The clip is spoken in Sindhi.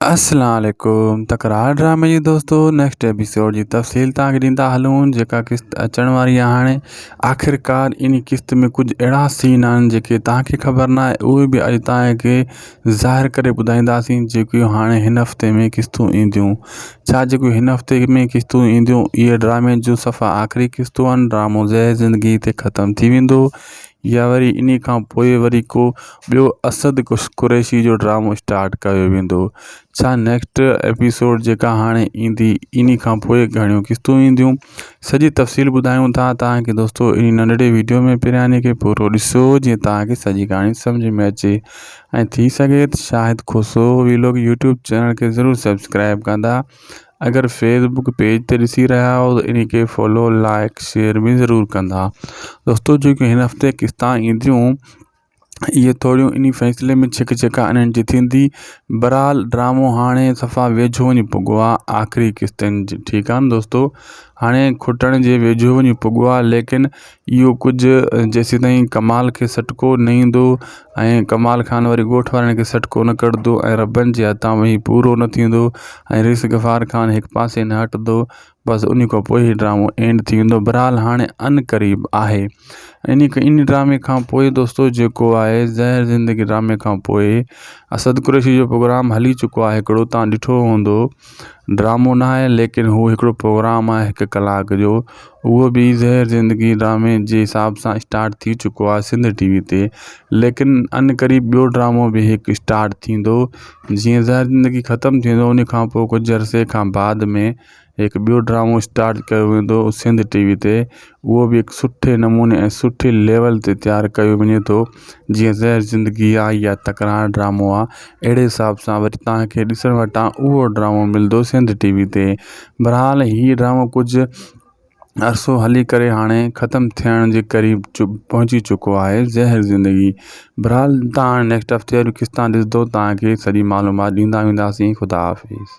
اسلام عليڪم تڪرار ڊرامي جي دوستو نيڪسٽ ايپيسوڊ جي تفصيل تان کي ڏيندا هلون جيڪا قسط اچڻ واري آهي هاڻي آخرڪار اني قسط ۾ ڪجهه اهڙا سين آهن جيڪي تان کي خبر نه آهي اهي به اڄ تان کي ظاهر ڪري ٻڌائينداسين جيڪي هاڻي هن هفتي ۾ قسطون اينديون ڇا جيڪي هن هفتي ۾ قسطون اينديون اهي ڊرامي جو صفا آخري قسطون ڊرامو زهر زندگي تي ختم ٿي ويندو يا وري انهي کان پوء وري ڪو ٻيو اسد قريشي جو ڊرامو اسٽارٽ ڪيو ويندو ڇا نيڪسٽ ايپيسوڊ جيڪا هاڻي ايندي انهي کان پوء گهڻيون قسطون اينديون سڄي تفصيل ٻڌايون ٿا توهان کي دوستو انهي ننڍڙي ويڊيو ۾ پهرياني کي پورو ڏسو جيئن توهان کي سڄي ڪهاڻي سمجهه ۾ اچي ۽ ٿي سگهي ته Shahid Khoso vlog YouTube channel کي ضرور سبسڪرائب ڪندا اگر فيس بڪ پيج تي ڏسي رهيا آهيو ته ان کي فالو لائڪ شيئر به ضرور ڪندا دوستو جيڪي هن هفتي قسطان اينديون اهي ٿوريون ان فيصلي ۾ ڇڪ ڇڪا انهن جي ٿيندي برحال ڊرامو هاڻي صفا ويجهو وڃي پڳو آهي آخري قسطن جي ٺيڪ آهن دوستو هاڻي کٽڻ جي ويجهو وڃي پڳو آهي ليڪن اهو ڪجهه جيسيتائين ڪمال کي سٽڪو نه ايندو ۽ ڪمال خان وري ڳوٺ وارن کي سٽڪو نه ڪڍندو ۽ ربن جي هٿان به هي پورو نه ٿيندو ۽ رئيس غفار خان هڪ پاسي نه هٽندو بس ان کان پوء هي ڊرامو اينڊ ٿي ويندو بھرحال هاڻي ان قريب آهي ان ان ڊرامي کان پوء دوستو جيڪو آهي زهر زندگي ڊرامي کان پوء اسد قريشي جو پروگرام هلي چڪو آهي هڪڙو تان ڏٺو هوندو ڊرامو نه آهي ليڪن هو هڪڙو پروگرام آهي هڪ ڪلاڪ جو اهو به زهر زندگي ڊرامي جي حساب سان اسٽارٽ ٿي چڪو آهي سنڌ ٽي وي تي ليڪن ان قريب ٻيو ڊرامو به هڪ اسٽارٽ ٿيندو جيئن زهر زندگي ختم ٿيندو ان کان پوء ڪجهه عرصي کان بعد ۾ هڪ ٻيو ڊرامو اسٽارٽ ڪيو ويندو سنڌ ٽي وي تي اهو به هڪ سٺي نموني ۽ سٺي ليول تي تيار ڪيو وڃي ٿو جيئن زهر زندگي آ يا تڪرار ڊرامو آ اهڙي حساب سان وري توهان کي ڏسڻ وٽان اهو ڊرامو ملندو سنڌ ٽي وي تي بھرحال هي ڊرامو ڪجهه عرصو هلي ڪري هاڻي ختم ٿيڻ جي قريب پهچي چڪو آهي زهر زندگي بھرحال توهان نيڪسٽ هفتي وري ڪس تان ڏسندو توهان کي سڄي معلومات ڏيندا وينداسين خدا حافظ